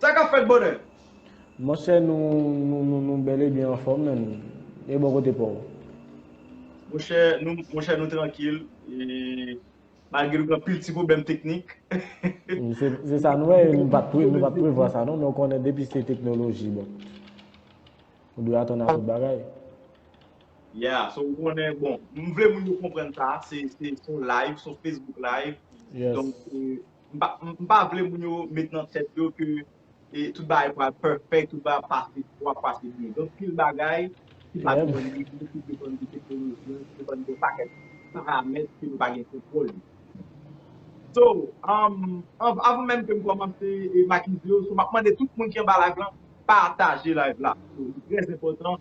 Sa kap fèt bonè? Monchè nou bèl e byen anfòm men e bò kote paw? Monchè nou trankil e. Malgre nou gen anpil ti pwoblèm teknik. Se sa nou wè, nou pa t prevwa sa non, men ou konnen depi se teknoloji bon. Ou dwe atann a tout bagay. Yeah, so ou konnen bon, m vle moun yo konprann sa, se yon live, se yon Facebook live, donk m pa vle moun yo met nan tèt yo ke e tout bagay pral perfect, tout bagay ap pase pou ap pase byen. Gen anpil bagay ki pa depann de nou, ki depann de teknoloji an, ki depann de yon pakèt paramèt ke nou pa gen kontwòl yo. So, avan menm ke m kòmanse e make video, so m ap mande tout moun ki anba live lan, pataje live la. So, li trèzenpòtan.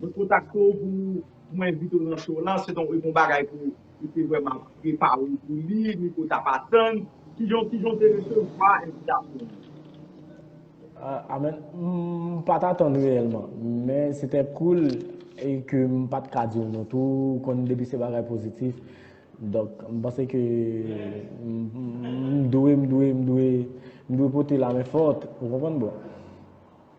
Mwen kontakte w pou mwen envite w nan show lan, se donk e bon bagay pou ou te vrèman prepare w pou li, ni ke w t ap atann. Kijan w te resevwa envitasyon an? Amen. M pa t atann reyèlman, men se te koul e ke m pa t ka di w non tou, ou konn depi se bagay pozitif, donk m panse ke m dwe, m dwe, m dwe, m dwe pote la men fòt, ou konprann bro?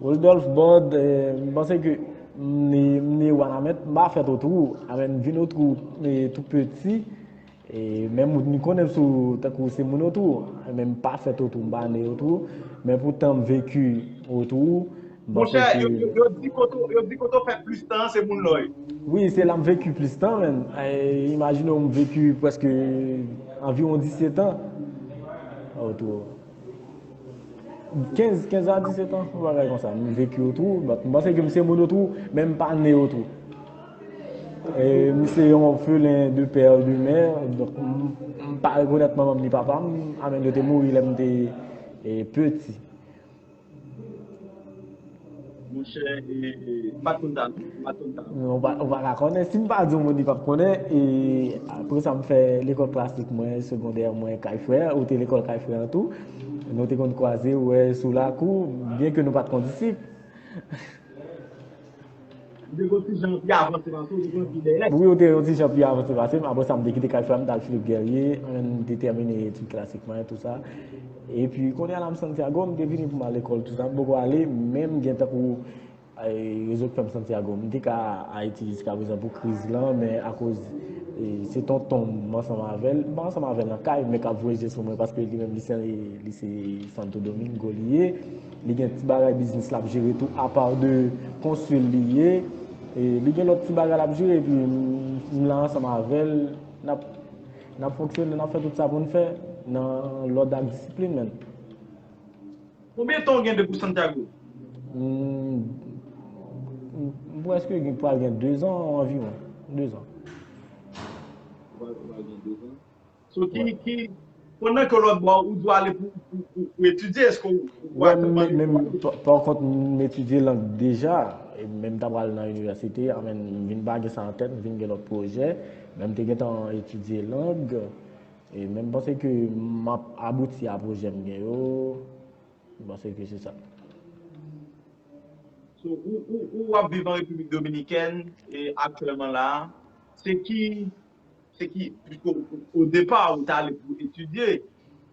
Rodolphe Bord, m panse ke m ne wanament, m pa fèt otrou, amè m vin otrou tou peti, men m konnen sou tankou se moun otrou, men m pa fèt otrou, m pa ne otrou, men pou tan m veki otrou, m panse ke... Monchè, yo di kote, yo di kote w fè plis tan an se moun lòy. Wi, se la m veki plis tan menm, imajine w m veki preske anviwon 17 an otrou. 15, 15 a 17 ans, yon bagay konsa. M vekye yo tou, bat m panse ke m se moun yo tou, men m pa ne yo tou. E, m se yon orphelin de père et de mère, donk m pa rekonèt manman m ni papa m, a men yo te mouri lè m te peti. Monchè m pat konn sa non, m pat konn sa non. Ou pa ka konnen, si m pa di w moun li pap konnen, e apre sa m fè lekòl klasik mwen, segondè mwen kay frè, ou te lekòl kay frè an tou, nou te konn kwaze wè sou lakou, byen ke nou pat kondisip. M te gen yon ti jan pi avanse pase w, m te gen yon ti dèlè. Wi, w te gen yon ti jan pi avanse pase m. Apre sa, m te kite kay frè m, m t al Philippe Guerrier, m te tèmine etid klasik mwen, tout sa. Epi, kounye a la m Santiago, m te vini pou m al lekòl, tout sa. M poko ale, men m gen tankou rezo k fè m Santiago. M te ka Ayiti jiska prezan pou kriz lan, men akoz se tonton m, m ansanm avè l, m pa ansanm avè l nan kay, men k ap voye je sou mwen paske li menm li se Santo Domingo li ye. Li gen ti bagay biznis lap jere tou apa de konsil li ye li gen lòt ti bagay lap jere epi m la ansanm avèl nap fonksyone nap fè tout sa poun fè nan lòd ak disiplin menn. Konbyen tan ou gen depi Santiago? M preske gen pral gen 2 zan anviwon 2 zan. So ki ki pandan ke lòt bò ou dwe ale pou pou etidye eske ou wè menm menm menm pa kont m etidye lang deja e menm ta pral nan inivèsite an menm m vin pa gen sa an tèt m vin gen lòt pwojè men m te gentan etidye lang e menm panse ke m ap abouti a pwojè m gen yo m panse ke se sa So ou ou ou ap viv an Repiblik Dominikèn e aktyèlman la se ki Se ki, piske o depa ou ta ale pou etidye,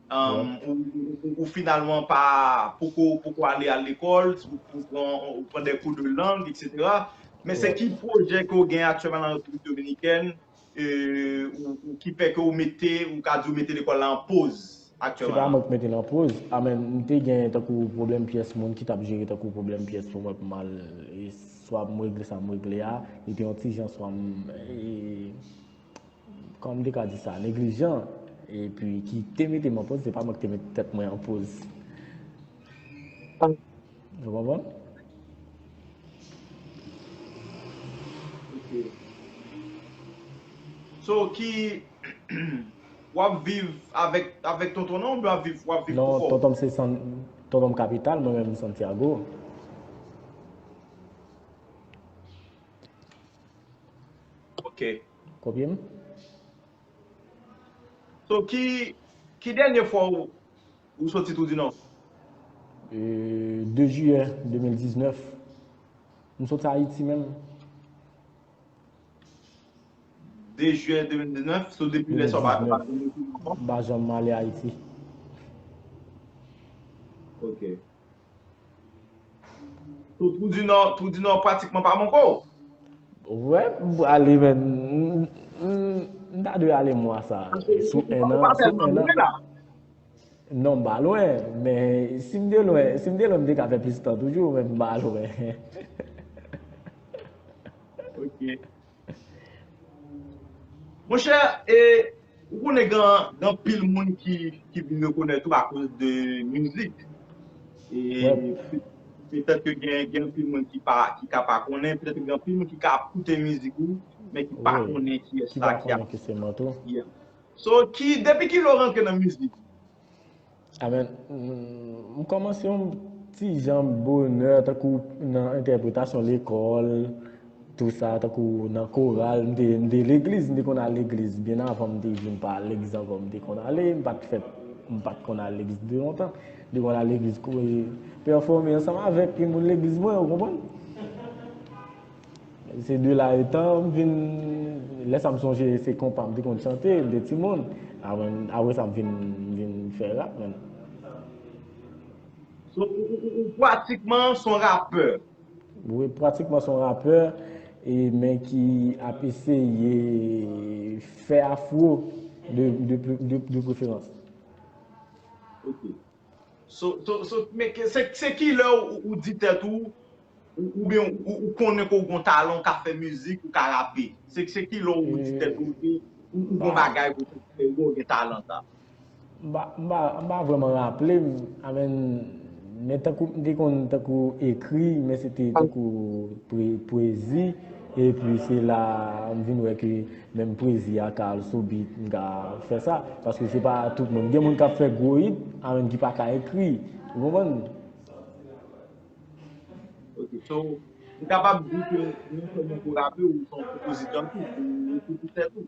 ou finalman pa, poko, poko ale a lekòl, ou pran, ou pran de kou de lang, etc. Men se ki pwojè ke ou gen aktyèman nan Repiblik Dominikèn, ou ki fè ke ou mete, ou ka di ou mete lekòl la an poz? Se pa mwen ki mete nan poz. A men m te gen tankou pwoblèm pyès moun ki t ap jere tankou pwoblèm pyès pou mwen pou m al swa pou m regle sa m regle a. Li te yon ti jan swa m kòman m te ka di sa neglijan epi ki te mete m an poz se pa mwen ki te mete tèt mwen an poz. Ou konprann? Ok. So ki Wap viv avek tonton nan oubyen wap viv pou kòw? Non tontonm se san tontonm kapital mwen menm Santiago. Ok. Kopye m? So ki ki dènye fwa ou soti tou di non? 2 jiyè 2019. M soti ayiti menm. 2 jiyè 2019, so depi lè sa w pa janm ale Ayiti ankò? M pa janm ale Ayiti. Ok. So Twou di Nò, Twou di Nò pratikman pa manke w? Wè, m pou ale men, m ta dwe ale mwa sa. Sou 1 an, sou 1 an. Non, m pa lwen, men si m te lwen, si m te lwen m te ka fè plis tan toujou, men m pa lwen. Ok. Mon chè e ou konnen gen anpil moun ki vin rekonèt ou akoz de mizik. E petèt ke gen anpil moun ki ka pa konnen, petèt gen anpil moun ki ka ap koute mizik ou men ki pa konnen kiyès sa ki ap. Ki pa konnen ke se Manto. Yeah. So depi kilè ou rantre nan mizik? Amen m komanse yon ti jan bonè tankou nan entèpretasyon lekòl tou sa tankou nan koral m te legliz m te konn al legliz byen avan m te vin pa al legliz ankò m te konn ale m pat fèt m pat konn al legliz depi lontan m te konn al legliz kore pèfome ansanm avèk moun legliz mwen ou konprann. Se de la etan m vin, lè sa m sonje se konpa m te konn chante de ti moun. Apre sa m vin fè rap menm. So ou pratikman s on rapè? Wi, pratikman s on rapè men ki ap eseye fè afro de preferans. Ok. So, so, so, men ke, se, se kilè ou, ou di tèt ou, ou, oubyen ou, ou, ou konnen ke ou gon talan, ou ka fè mizik, ou ka rape? Se, se kilè ou di tèt ou ke ou, ou gon bagay pou tèt ou ke ou gen talan sa? M pa, m pa, m pa vrèman raple m, amèn, men tankou m te konn tankou ekri, men se te tankou pwe, pwezi, epi se la m vin wè ke. Menm pwezi a ka al sou beat m ka fè sa paske se pa tout moun gen moun kap fè gwo hit a menm ki pa ka ekri ou konprann. Ok so m kapab di ke non sèlman pou rape ou se yon konpozitè tou ou ekri pou tèt ou?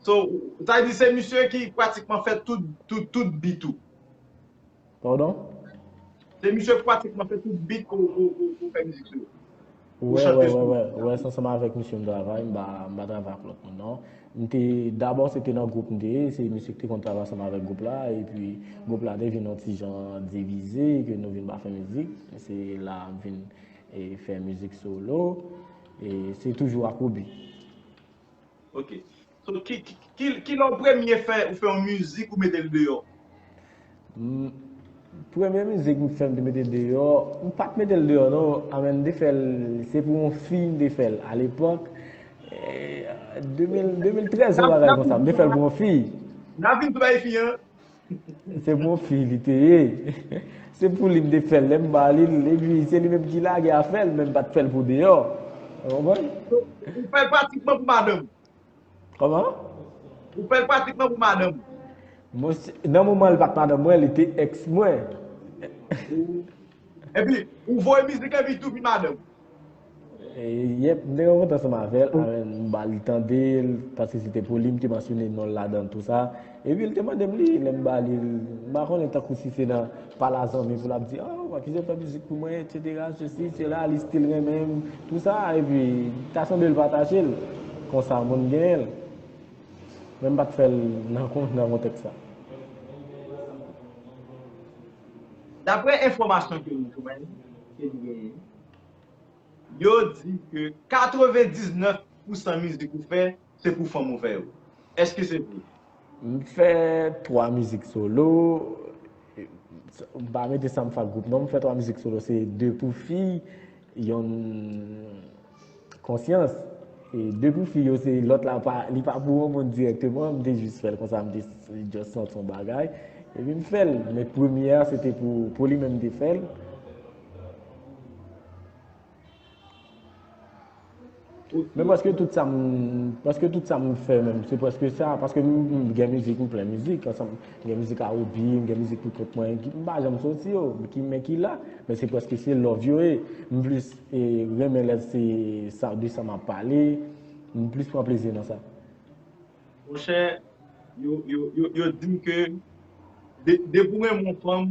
So, ou ta di se misye ki pratikman fè tout beat ou? Pardon? Se misye ki pratikman fè tout beat ke ou fè mizik sou yo? Ou chante sou yo? Wè, wè, wè, wè, se ansanm avèk misye m travay, m pa travay ak lòt moun non. M te, dabò se te nan gwoup m te ye, se misye ki te konn travay ansanm avèk gwoup la, epi gwoup la te vin yon ti jan divize, ke nou vin pa fè mizik, se la m vin fè mizik solo, e se toujou ak Roody. Ok So kilè ou premye fè ou fè yon mizik ou metel deyò? Premye mizik m fè m te metel deyò, m pat metel deyò non anmè m te fèl se pou yon fi m te fèl a lepòk 2013 yon bagay konsa m te fèl pou yon fi. Nan vin sou bagay fi an. Se bon fi li te ye. Se pou li m te fè l lè m ba li l epi se li menm ki lage afè l men m pa t fè l pou deyò. Ou konprann? Ou fè l pratikman pou madanm ou. Kòman? Ou fè l pratikman pou madanm ou. Monchè, nan moman li pa t madanm mwen, li te èks mwen. Epi, ou voye mizik epi li tou vin madanm ou. Yep mte kontan ansanm avèl m bali tandel paske se te pouli m te mansyone nonl ladanl tou sa epi l te mandem li lèm bali l m pa konnen tankou si se nan pala zanmi pou lap di oh ou pa kite fè mizik pou mwen etc sesi sela li stil renmenm tou sa epi ta sanble l patajel konsa moun genyenl men m pat fèl nan kontèks sa. Daprè enfòmasyon ke m jwenn ke m genyen. Yo di ke 99 pousan mizik ou fè se pou fanm ou fè yo. Eske se vre? M fè 3 mizik solo, m pa mete sa m fè ak gwoup non, m fè 3 mizik solo se 2 pou fi, yonn konsyans. E 2 pou fi yo se lòt la pa, li pa pou yon moun dirèkteman, m te jis fè l konsa, m te just santi yon bagay. Epi m fè l, men premye a se te pou li menm m te fè l. Men paske tout sa m, paske tout sa m fè menm, se paske sa, paske m gen mizik, m plen mizik, ansanm, m gen mizik R&B, m gen mizik pou kont mwen, m pa janm soti yo, men ki la, men se paske se love yo ye, m plis renmen lè se sa, de sa m ap pale, m plis pran plezi nan sa. Monchè, yo di m ke depi w renmen yon fanm,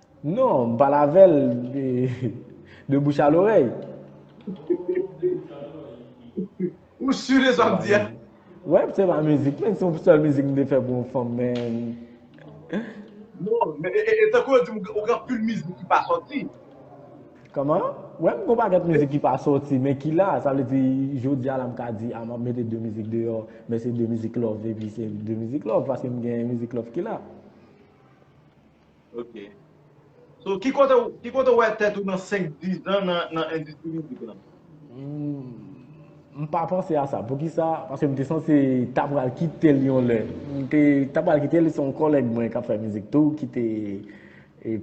Non, m pale avè l de bouch a lorèy. Ou sur de sa w ap di a? Wè, se pa mizik men, se yon sèl mizik m te fè pou yon fanm men. Non, men e tankou yo di m ou gen anpil mizik ki pa sòti. Kòman? Wè, m gen yon pakèt mizik ki pa sòti men ki la, sa vle di jodi a la m ka di a m ap mete 2 mizik deyò men se 2 mizik love epi se 2 mizik love paske m gen mizik love ki la. Ok. So, ki kote ou, ki kote ou wè tèt ou nan 5, 10 an nan, nan endistri mizik lan? M pa panse a sa. Poukisa? Paske m te sanse ta pral kite l yon lè. M te ta pral kite l, se yon kòlèg mwen k ap fè mizik tou ki te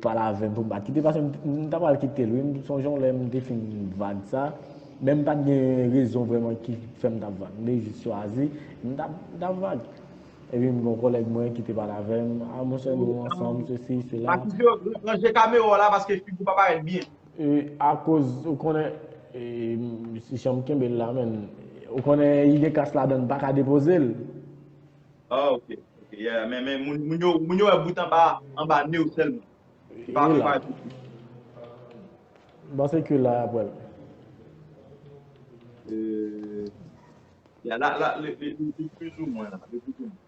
pale avè m pou m pa kite l. Paske m ta pral kite l wi. M sonje yon lè m te fin vag sa, men m pa t gen rezon vrèman ki fè m t ap vag. M te jis chwazi, m t ap vag. Epi m gen yon kòlèg mwen ki te pale avè m, a monchè nou ansanm sesi sela. Patricio, ranje kamera w la paske figi w pa parèt byen. E akoz, ou konnen, e jan m kenbe l la menm, ou konnen li gen kas ladan l m paka depoze l. Ah ok, ok, yeah, men moun yo wè bout anba a, anba ne w sèlman. Yo pa wè tout ou. M panse ke la y ap wè l. Euh. Ya la la li plus ou mwen la li plus ou mwen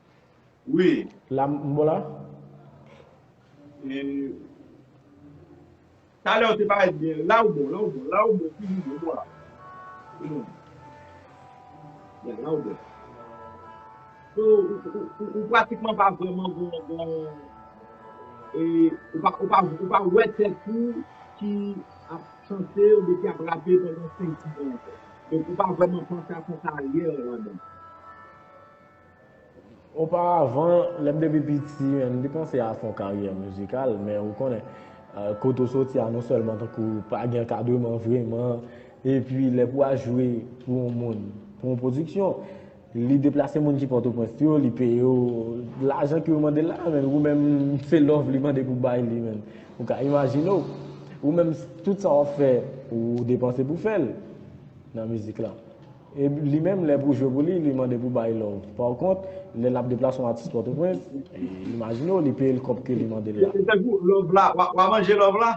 wi. La m bon la? Talè ou te parèt byen la ou bon la ou bon la ou bon toujou bon ou bon la ya la ou bon ou ou pratikman pa vrèman gen gen ou pa ou pa wè tèt ou ki ap chante oubyen ki ap rape pandan 5 10 an ankò. Donk ou pa vrèman panse ak yon karyè ladan. Oparavan, lè m te pi piti, m te panse ak yon karyè mizikal, men ou konnen, kote ou soti a non sèlman tankou pa gen ankadreman vrèman, epi lè pou al jwe pou yon moun, pou yon pwodiksyon, Li deplase moun ki pòtoprens yo li peye yo lajan ke yo mande la a men ou menm se love li mande pou bay li menm ou ka imajine w ou menm tout sa wap fè ou depanse pou fè l nan mizik la e li menm lè pou jwe pou li li mande pou bay love pa kont lè lap deplase yon atis pòtoprens imajine w li peye l kòb ke li mande l la. Se tankou love la wa manje love la.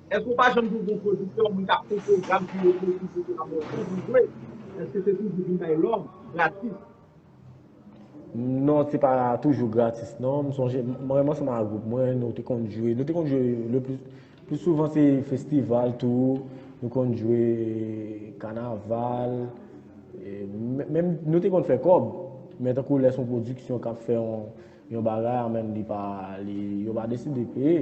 Èske ou pa janm jwenn yon pwodiktè, moun k ap fon pwogram pou yo jwe mizik la ba w tan pou jwe? Èske se toujou vin bay lòv, gratis? Non, se pa toujou gratis non. M sonje, mwen menm ansanm ak gwoup mwen, nou te konn jwe, nou te konn jwe le plis, plis souvan se festival tou, nou konn jwe kanaval, menm nou te konn fè kòb, men tankou lè son pwodiksyon k ap fè yon bagay an menm li pa, yo pa deside peye.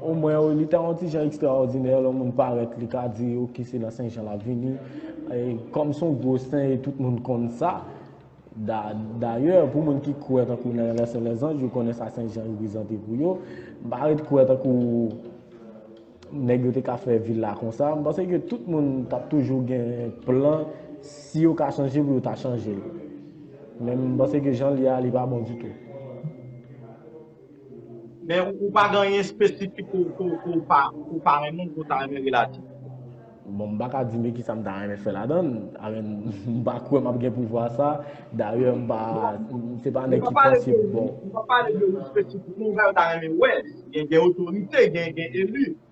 O mwen wi, li ta yon ti jan ekstraòdinè lè yon moun parèt li ka di ok se nan Senjan l ap vini. Kòm se yon gwo sen e tout moun konn sa, dayè pou moun ki kwè tankou nan Lè Sen Lèzanj yo konnen sa Senjan reprezante pou yo, m pa ret kwè tankou nèg yo te ka fè vil la konsa. M panse ke tout moun t ap toujou gen plan si yo ka chanje pou yo ta chanje l. Men m panse ke jan l ye a li pa bon ditou. Men ou pa gen anyen espesifik ke ou pa renmen ke ou ta renmen relate? Bon, m pa ka di men kisa m ta renmen fè ladan l, m pa kwè m ap gen pouvwa sa, dayè m pa, se pa nèg ki panse bon. Nou pa pale de ou espesifik, men ou ta renmen wè, gen otorite, gen eli.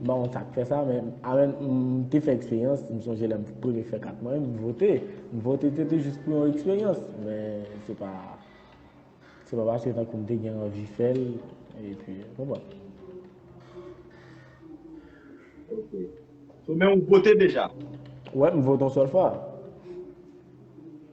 M pa konn sa k fè sa men avèn m te fè eksperyans, m sonje lè m premye fè kat mwen, m vote. M vote se te jis pou yon eksperyans men se pa se pa paske tankou m te gen anvi fè l epi ou konprann. Ok. So men ou vote deja? Wè m vote yon sèl fwa.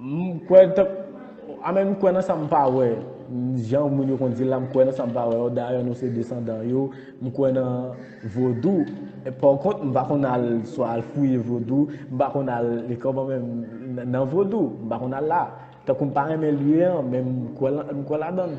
M kwè tank a men m kwè nan sa m pa wè Jan moun yo konn di l la m kwè nan sa m pa wè Dayè nou se desandan yo M kwè nan vodou Pòkont m pa konn al swa al fouye vodou M pa konn al kòman men m nan vodou M pa konn al la Tankou m pa renmen lye an men m kwè ladan l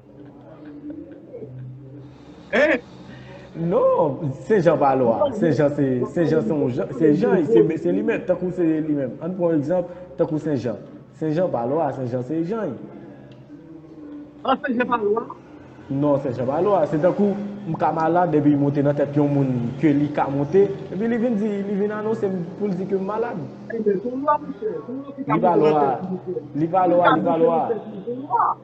Non, se Jan pa lwa. Se Jan se, se Jan se yon Jan, se Jan, se li menm, tankou se li menm. An pran egzanp, tankou se Jan. Se Jan pa lwa, se Jan se Jan. An se Jan pa lwa? Non, se Jan pa lwa. Se tankou, m ka malad epi monte nan tèt yon moun ke li ka monte, epi li vin di, li vin anonse m pou l di ke m malad. Ebyen, se lwa monchè. Se lwa ki ka monte nan tèt yon moun. Li pa lwa, li pa lwa, li pa lwa.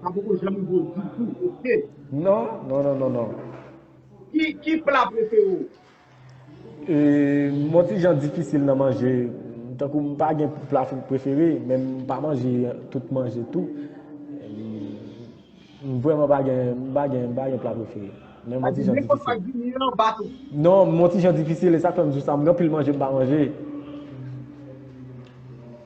Pa poko janm gwo ditou ok. Non non non non non. Ki pla prefere w? M on ti jan difisil nan manje, tankou m pa gen pla prefere, men m pa manje tout manje tou. M vrèman pa gen, m pa gen, m pa gen pla prefere. Men m on ti jan difisil. Sa di nenpòt sa k vin ye an ba tou? Non, m on ti jan difisil, e sa k fè m di w sa, m gen anpil manje m pa manje.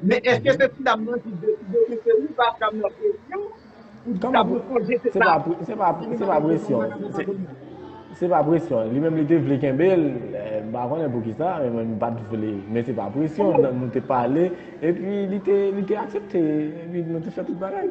Men eske se ti dam nan ki deside ke se li pa dam nan presyon pou ti dam nan sonje se pa Se pa se pa presyon Se pa presyon Li menm li te vle kenbe l M pa konnen pou ki sa men m pat vle Men se pa presyon Nou te pale epi li te aksepte epi nou te fè tout bagay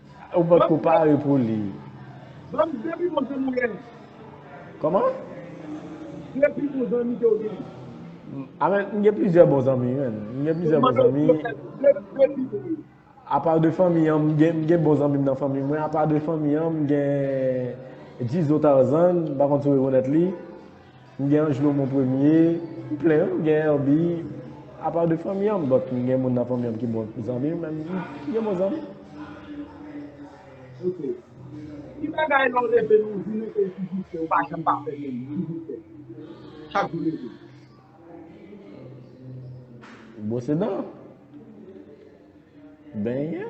Ou pa ko pare pou li. Banm de pi bon zanmi len. Koman? De pi bon zanmi ke ou gen. Amen, m gen plizyè bon zanmi men. M gen plizyè bon zanmi. De pi bon. Apa de fanmi an, m gen bon zanmi m nan fanmi mwen. Apa de fanmi an, m gen Jizo Tarzan, m pa konn si w rekonèt li. M gen Angelo mon premier, m plen wi m gen Herby apa de fanmi an m but m gen moun nan fanmi an ki bon zanmi men m gen bon zanmi. Ok ki bagay lè w reve nou di mete l toujou fre ou pa janm pa fè menm toujou fre chak jou leve. Bwose dan. Benyen.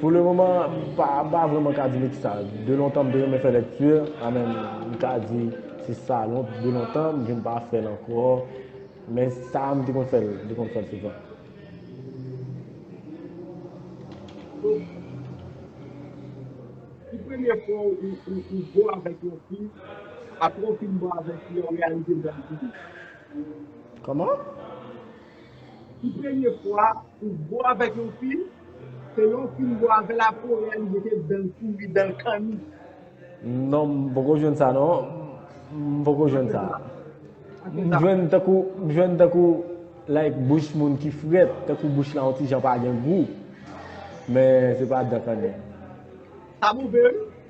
Pou le moman, m pa vreman ka di mèt sa. De lontan m te renmen fè lèkti, a men m ka di se sa de lontan m vin pa fè l ankò. Men sa m te konn fè l, m te konn fè l souvan. Ki premye fwa ou bo avèk yon fi, apre w fin bo avèk li, ou reyalize bèlte li? Kòman? Pou premye fwa ou bo avèk yon fi, se lè w fin bo avè l apre ou reyalize ke dan l pouri, dan l kanni. Non m poko jwenn sa non, m poko jwenn sa. M jwenn tankou, m jwenn tankou like bouch moun ki frèt, tankou bouch la yon ti jan pa gen gou. Men se pa dan kanni. Sa move wi.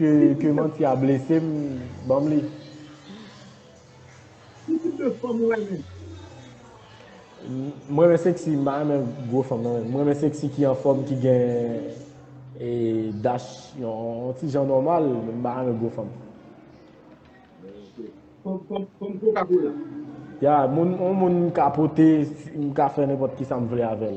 Ke manti a blesem banm li. Ki tip de fanm ou renmen? M renmen seksi, m pa renmen gwo fanm nan. M renmen seksi ki anfòm, ki gen e dach, yon ti jan nòmal, m pa renmen gwo fanm. Fanm koka kola? Ya, yon moun m ka pote, m ka fè nenpòt kisa m vle avèl.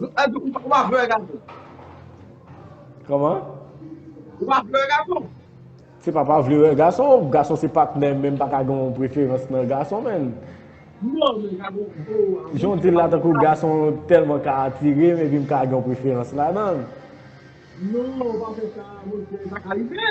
Ou pa vle wè gason? Kòman? Ou pa vle wè gason? Se pa pa vle wè gason, gason se patnè men m pa ka gen yon preferans nan gason men. Non men ka gen yon... Jan w di l la tankou gason tèlman ka atire men epi m ka gen yon preferans ladan l. Non, ou pa fè sa monchè, sa ka rive.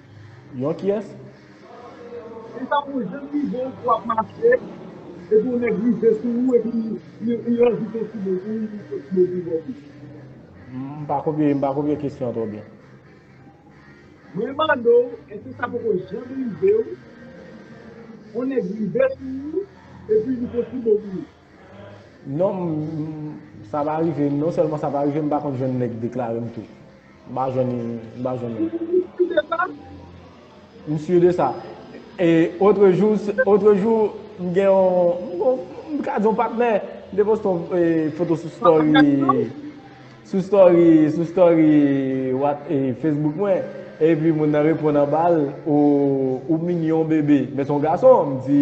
Yon kiyès? Li tankou jan li rive ou wap mache epi yon nèg rive sou ou epi li rajoute yon ti mo pou ou yon fo ti mo pou ou anplis. M pa konpre, m pa konpre kesyon an twò byen. Mwen mande w èske sa poko janm rive w yon nèg rive sou ou epi li fon ti mo pou ou. Non m sa pa rive m non sèlman sa pa rive m pa konn jwenn nèg deklare m tou m pa jwenn m pa jwenn moun. M sur de sa e otre jou otre jou m gen yon m ka di yon patnè m te poste yon foto sou story sou story sou story Facebook mwen epi moun nan reponn anba l ou mignon bebe men se yon gason m di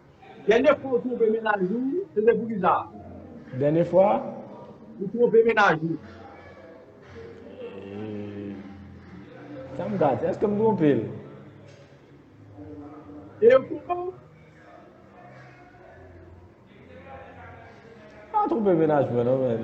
Dènye fwa ou twonpe mennaj ou, se te poukisa? Dènye fwa? Ou twonpe mennaj ou. E sa m ka di? Èske m twonpe l? E yo twonpe w? M pa twonpe mennaj mwen non menn.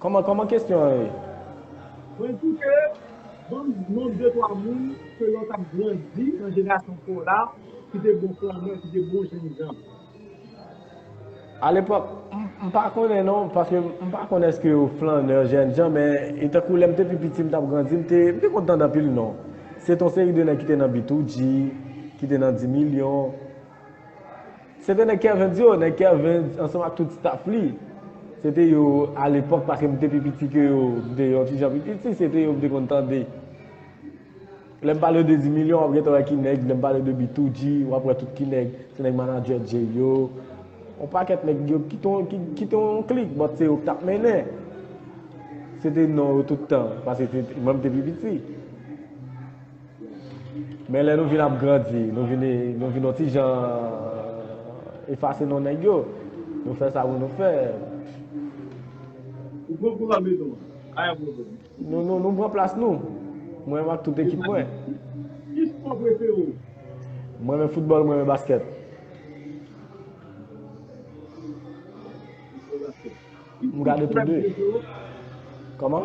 Kòman kòman kesyon an ye? Mwen di ke banm non de twa moun ke lè w tap grandi nan jenerasyon paw la ki te bon flannè, ki te bon jènjan. A lepòk, m pa konnen non, paske m pa konnen eske yo flannè, jènjan, men e tankou lè m te pi piti m tap grandi m te, m te konn tande anpil non. Se te yon seri de nèg ki te nan Bitoudji, ki te nan Dimilyon. Se te nèg Kervens yo, nèg Kervens ansanm ak tout staff li. Se te yo a lepòk paske m te pi piti ke yo, m te yon ti jan pi piti, se te yo m te konn tande. Lè m pale de Dimilyon w ap gentan wè ki nèg, lè m pale de Bitoudji w ap wè tout ki nèg, se nèg manadjè Djey yo, yon pakèt nèg yo ki te yon klik but se yo ki t ap mennen. Se te non yo tout tan paske mwen m te pi piti. Men lè nou vin ap grandi, nou vin yon ti jan efase non nèg yo. Nou fè sa pou nou fè. Nou pran plas nou. Mwen menm ak tout ekip mwen. Mwen men foutbòl, mwen men baskèt. Mwen gade tou de. Kòman?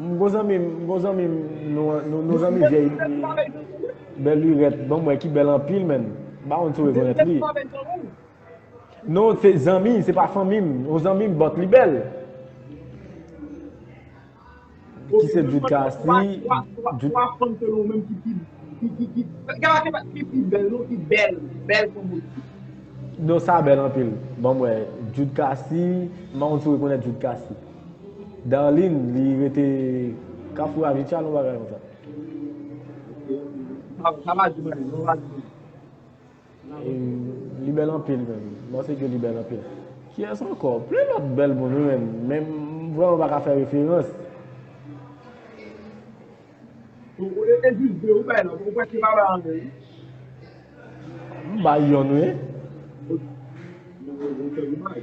M bon zanmi m, m bon zanmi m, nou zanmi vyèy. Bèl lirèt, banm wè ki bèl anpil menn. M pa konn si w rekonèt li. Non, se zanmi, se pa fanmi m. Yon zanmi m, bòt li bèl. Ki se Jude Cassie. Non sa bèl anpil. Bon mwen, Jude Cassie, mwen mwen sou rekonèt Jude Cassie. Darline, li rete kafou a vitya nou bagay mwen sa. Sa va di mwen, sa va di mwen. Li bèl anpil menm. Mwen se ke li bèl anpil. Kiyès ankò? Plen lòt bèl moun wi menm. Men m vrèman pa ka fè referans. E jis de ou bay lòt. Ou prèske pa bay anyen wi. M bay yonn wi. Ou fè dommaj.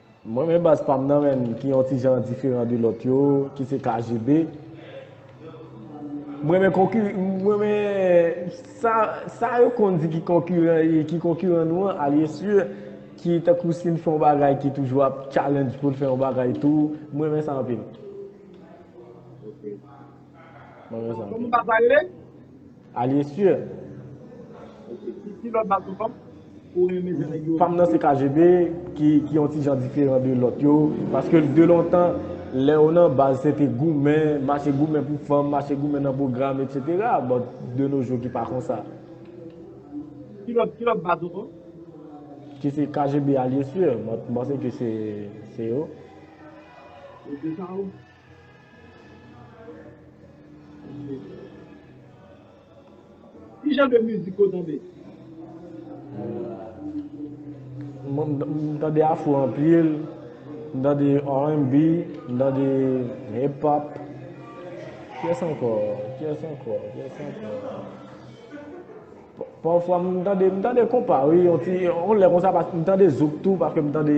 Mwen men baz pam nan menn ki yon ti jan diferan de lòt yo ki se KGB m renmen konki m renmen sa sa yo konn di ki konkiran e ki konkiran nou an alye si ki tankou si n fè yon bagay ki toujou ap challenge pou l fè yon bagay tou m renmen sa anpil m renmen sa anpil Alye sir. Pam nan se KGB ki yon ti jan diferan de lòt yo. Paske de lontan, lè ou nan baz se te goumen, mache goumen pou fanm, mache goumen nan pwogram, etc. But de nos jours ki pa konsa. Ki lòt baz ou kon? Ki se KGB alye sir. Mwen panse ke se yo. Yo te sa ou? Ki jan de mizik ou tande? Mwen tande afro anpil, mwen tande R&B, mwen tande hip hop. Kyes anko? Kyes anko? Kyes anko? Pafwa mwen tande, mwen tande konpa wi, yon ti, yon lè konsa mwen tande zouk tou, paske mwen tande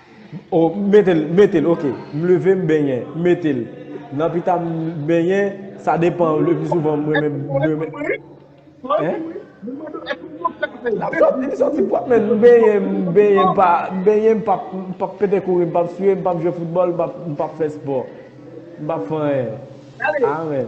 Oh m mete l, mete l ok. M leve m benyen, m mete l. Nan pita m benyen, sa depan le pi souvan m renmen benyen. L ap soti, li soti pwòp men m benyen, m benyen m pa, m benyen m pap, m pap pete kouri, m pap swiye, m pap jwe foutbòl, m pap, m pap fè spò. M pap fè anyen. Amen.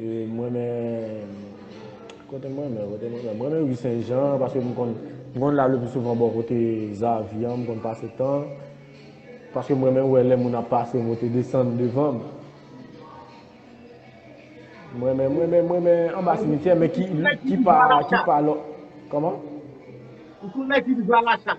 Mwen renmen kote mwen renmen kote mwen renmen mwen renmen ri sen jan paske mwen konn mwen konn lal le pi souvan bò kote zavi an mwen konn pase tan paske mwen renmen wè lè moun ap pase moute desann devan m mwen renmen mwen renmen mwen renmen anba simityè men ki ki pa ki pa lò kòman ou konn lè ki di zwa la chat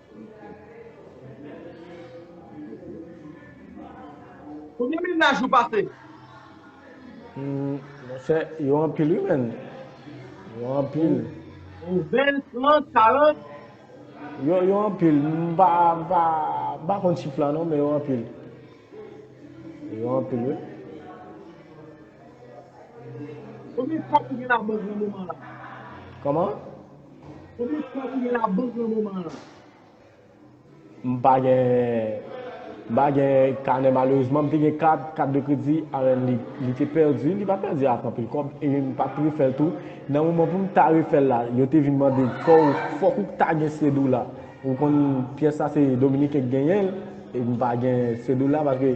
Ou gen mennaj ou pase? Monchè, yo anpil wi menn. Yo anpil. Yon 20, 30, 40? Yo anpil. M pa konn chif la non, men yo anpil. Yo anpil wi. Konbyen kòb ou gen nan bank nan moman la? Kòman? M pa gen m pa gen kanè malerezman m te gen kat kat de kredi alèn li te pèdi li pa pèdi ak anpil kòb e m pat refèl tou nan moman pou m ta refèl la yo te vin mande fòw fòk ou ta gen sedoula ou konn pyès la se dominiken k genyenl e m pa gen sedoula paske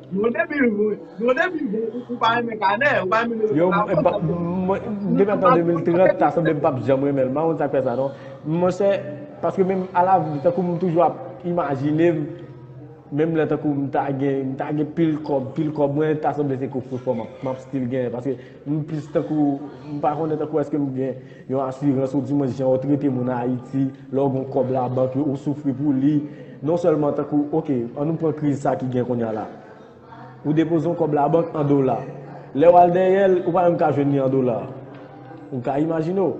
Yon depi yon depi ou pa renmen kanè, ou pa renmen mele Yo, kanè avèl, sa vle di mwen, depi nan tan 2030, ta sanble m pap janm renmen l. M pa konn sa k fè sa non. Monchè, paske menm alavni, tankou m toujou ap imajine m, menm lè tankou m ta gen, m ta gen pil kòb, pil kòb, mwen ta sanble se koffre fò m ap, m ap still genyen, paske M plis tankou, m pa konnen tankou eske m gen yon asirans ou dimwens jan yo trete moun Ayiti, lè w gen yon kòb labank yo, ou soufri pou li. Non sèlman tankou, ok, an nou pran kriz sa ki gen kounya la. Ou depoze yon kòb labank an dola. Lè w al dèyè l, ou pa menm ka jwenn li an dola. Ou ka imajine w.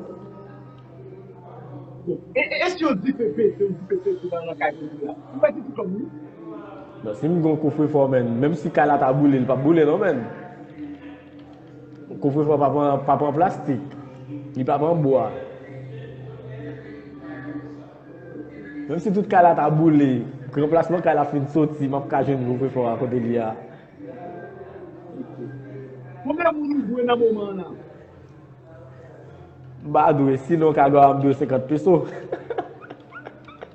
E si yon dife pete, yon dife pete nan yon kay kote w la? Ou pèdi tout kòb ou wi. Si m gen yon kofrefò menn, menm si kay la ta boule, li p ap boule non menn. Kouvrefe an pa pran plastik, li pa pran bwa. Menm si tout kay la ta boule, pou ranplasman kay la fin soti, m ap ka jwenn kouvrefe a kote li a. Konbyen moun ou dwe nan moman an la? M pa dwe, sinon kado a m dwe 50 peso.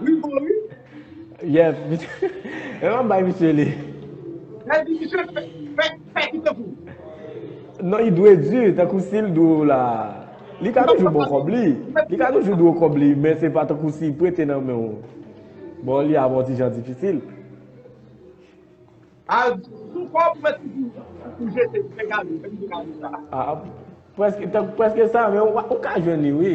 Wi bon wi. Yep. Ewa m bay misye li. Lè di misye fè fè ki tankou. Non li dwe di tankou sil dwe w la. Li ka toujou ba w kòb li. Li ka toujou dwe w kòb li men se pa tankou si prete nan men w. Ba w li ap yon ti jan difisil. Al sou kò pou mèt toujou pou jete pou fè gade, fè misye gade sa. Prèske sa men ou ka jwenn li wi.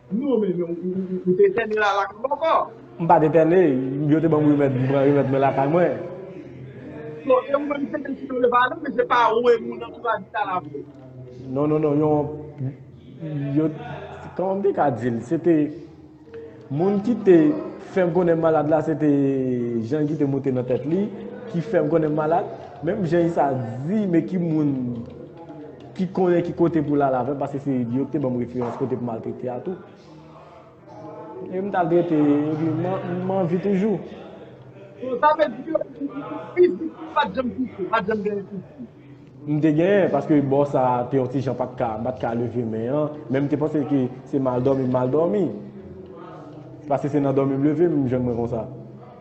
Non men men ou te etène la la kay ou ankò? M pat etène, yo te banm remèd m pran remèd mwen lakay mwen. Bon e ou menm se te sinon yo pa ale men se pa ou e moun antouraj ou ta la vre? Non non non yon yo kòman m te ka di l se te moun ki te fè m konnen m malad la se te jan ki te moute nan tèt li ki fè m konnen m malad menm jan sa di men ki moun Ki konnen ki kote pou lal avèm paske se li yo ki te banm referans kote pou mal trete a tou. E m tal trete epi m anvi toujou. So sa vle di yo di ou fizik ou pat janm soufri, pat janm genyen soufri? M te genyen paske bò sa te yon ti jan pat ka, m pat ka leve men an, men m te panse ke se mal dòmi m mal dòmi. Paske se nan dòmi m leve m jwenn mwen konsa.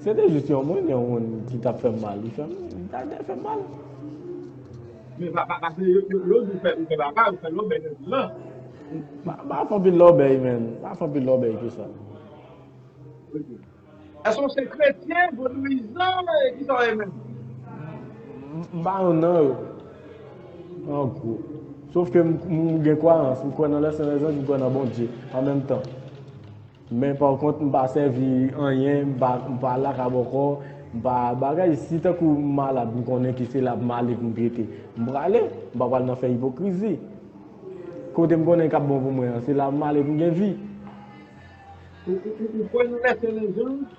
Se te jis yon moun, yon moun ki tap fèm mal, li fèm, li ta dwe fèm mal. Men pa pa pase yo yo yo di fè ou fè baba ou fè lòbèy nan vil lan. Pa pa fè anpil lòbèy men, pa fè anpil lòbèy ke sa. Ok. Èske ou se kretyen, vodouyizan, ki sa ou ye menm? M pa yon nan yo. An gwo. Sof ke m gen kwayans, m kwè nan lè sen lè zanj, m kwè nan Bondye an menm tan. Men pa kont m pa sèvi anyen, m pa laka bòkò, m pa bagay. Si tankou m malad m konnen ke se la m ale pou m trete, m prale. M pa pral nan fè ipokrizi. Kote m konnen k ap bon pou mwen an, se la m ale pou m gen vi. Ou kwè nan lèfè lèzòm?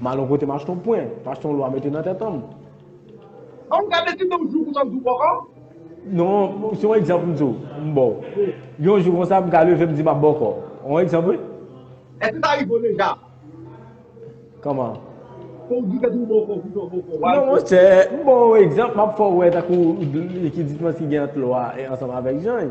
Malo pote machton pwen. Machton lwa mete nan tèt anm. An ou gade ti nonm jou konsa m di w bòkò? Non, se yon egzanp m di w, m ba w. Yon jou konsa m ka leve m di m ap bòkò. Yon egzanp wi. Èske sa rive w deja? Kòman? Fò w di tèt ou bòkò pou tò bòkò. Non monchè, m ba w yon egzanp, m ap fè w wè tankou ki diferans ki gen ant lwa ansanm avèk jany.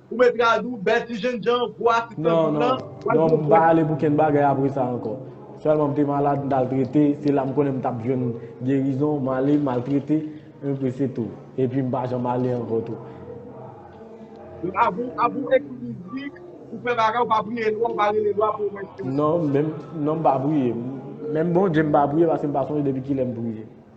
Ou met rad ou bèl ti jènjan gwo asistan Non non non m pa ale pou kenn bagay apre sa ankò Sèlman m te malad m t al trete se la m konnen m t ap jwenn gerizon m ale m al trete enpi se tou epi m pa janm ale ankò tou. Abou abou ekri mizik ou fè bagay ou pa priye lwa ou pa rele lwa pou ou mèsi ou. Non menm non m pa priye menm Bondye m pa priye paske m pa sonje depi kilè m priye.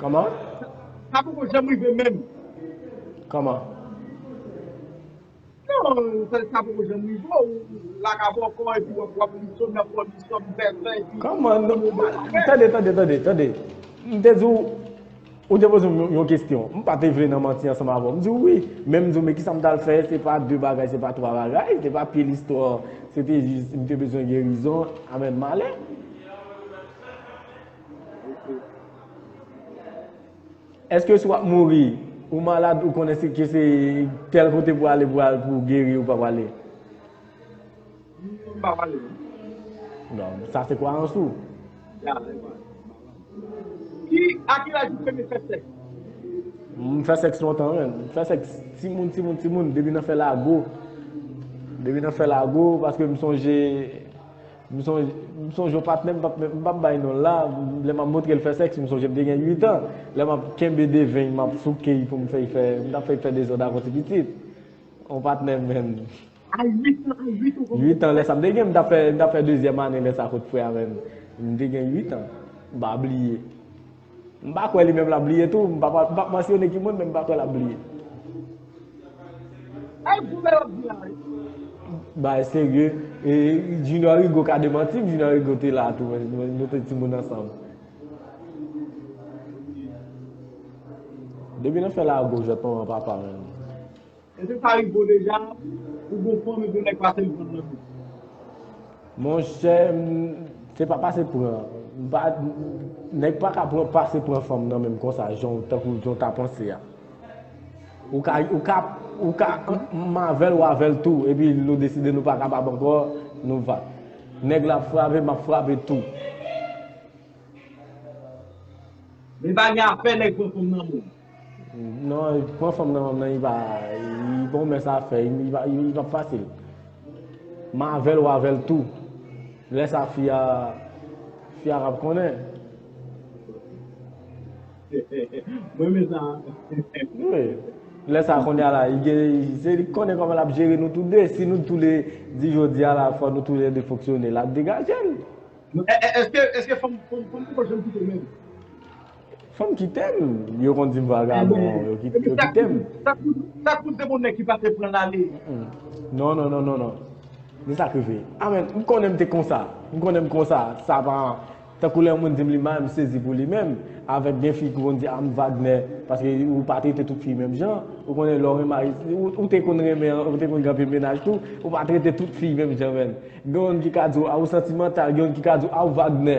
Kòman? Sa poko janm rive menm. Kòman? Non, sa poko janm rive ou laka bòkò epi wap wap li som nan fòm li som vèvè epi. Kòman? Tande, tande, tande, tande. M te di w, ou te poze m yon kestyon. M pa te vle nan manti ansanm avè w. M di w wi, men m di w men kisa m tal fè, se pa de bagay, se pa twa bagay, se pa pye listò, se te jis m te bezwen gerizon, amèn malè. Eske si wap mouri, ou malad ou konnen se ke se tel kote pou ale pou al pou geri ou pa wale? Mpa wale. Bon, sa se kwa an sou. Ya. Ki a ki laj ou premye fè sèks? M fè sèks lontan menm. M fè sèks ti moun ti moun ti moun depi nan fè lago. Depi nan fè lago paske m sonje M sonje yon patnè m pap bay non l la, lè m ap montre l fè sèks, m sonje m te gen 8 an, lè m ap kenbe deven l m ap souke l pou m fè l fè, m ta fè l fè dezòd avan l te pitit. Yon patnè menn. A 8 an, a 8 ou konn fè sèks? 8 an lè sa m te gen, m tap fè dezyèm ane lè sa kot frè a menm. M te gen 8 an, m pa bliye. M pa kwè li menm l ap bliye tou. M pa p mansyone ki moun men m pa kwè l ap bliye. Bay gou lè yo ap di a wi. Bay serye. E Junior Rigaud ka demanti m. Junior Rigaud te la tou. Nou te timoun ansanm. Depi nan fè lago jwèt manman papa menm. Eske sa rive w deja pou gon fanm epi yon nèg pase l pran l nan bouch? Monchè m se pa pase pran m pa nèg pa ka pran pase pran fanm nan menm konsa jan w tankou jan w ta panse a. Ou ka ou ka ou ka m avè l w avè l tou epi nou deside nou pa kapab ankò nou va. Nèg la ap frape m ap frape tou. Men pa gen afè nèg pran fanm nan menm. Non pran fanm nan menm nan ipa gon mès afè ipap fasil m avèl ou avèl tou lè sa fi a fi a kap konnen m renmen sa wi lè sa kounye a la se li k konnen kòman lap jere nou tou 2 si nou tou 2 di jodi a la fò nou tou 2 fonksyone lap degajel èske fanm fanm poko janm kite menm. Fanm kitem yo konn dim vagabon yo kitem. Sa kout de moun nèg ki pase pran lale. Non non non non non Men sak rive Amen m konnen m te konsa M konnen m konsa Sa pa Tankou lè yon moun di m li mal m sezi pou li menm avèk gen fi ki konn di a m Vagnè paske ou pa trete tout fi menm jan ou konnen lè w remari ou te konn renmen ou te konn gen anpil mennaj tou ou pa trete tout fi menm jan menn gen yon ki ka di w a ou santimantal gen yon ki ka di w a ou Vagnè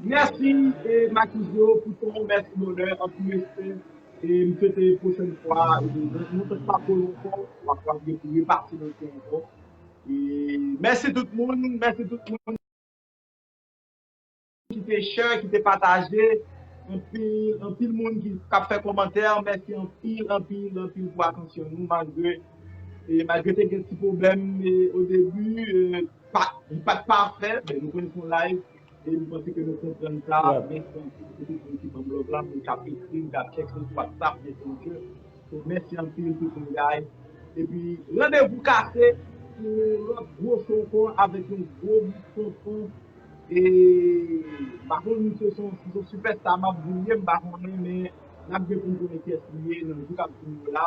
Merci Makizo pou ton ou merci bonheur anpil respè e m swete pwochèn fwa nou fèt pa twò lontan wap kapab gen pou repase nan kou ankò e mèsi tout moun mèsi tout moun ki te share ki te pataje anpil anpil moun ki ap fè kòmantè mèsi anpil anpil anpil pou atansyon nou malgre e malgre te gen ti pwoblèm o debi li pat pafè men nou konn se yon live E m panse ke nou konprann sa. Mèsi anpil pou tout moun ki banm love la, moun kap ekri m, kap tèks m sou WhatsApp, Messenger. So mèsi anpil tout moun guys. Epi randevou kase pou yon lòt gwo show ankò avèk yon gwo bout tonton e m pa konn si se yon superstar map di l ye m pa konnen men nap gen pou n konnen kyès li ye nan jou kap vini yo la.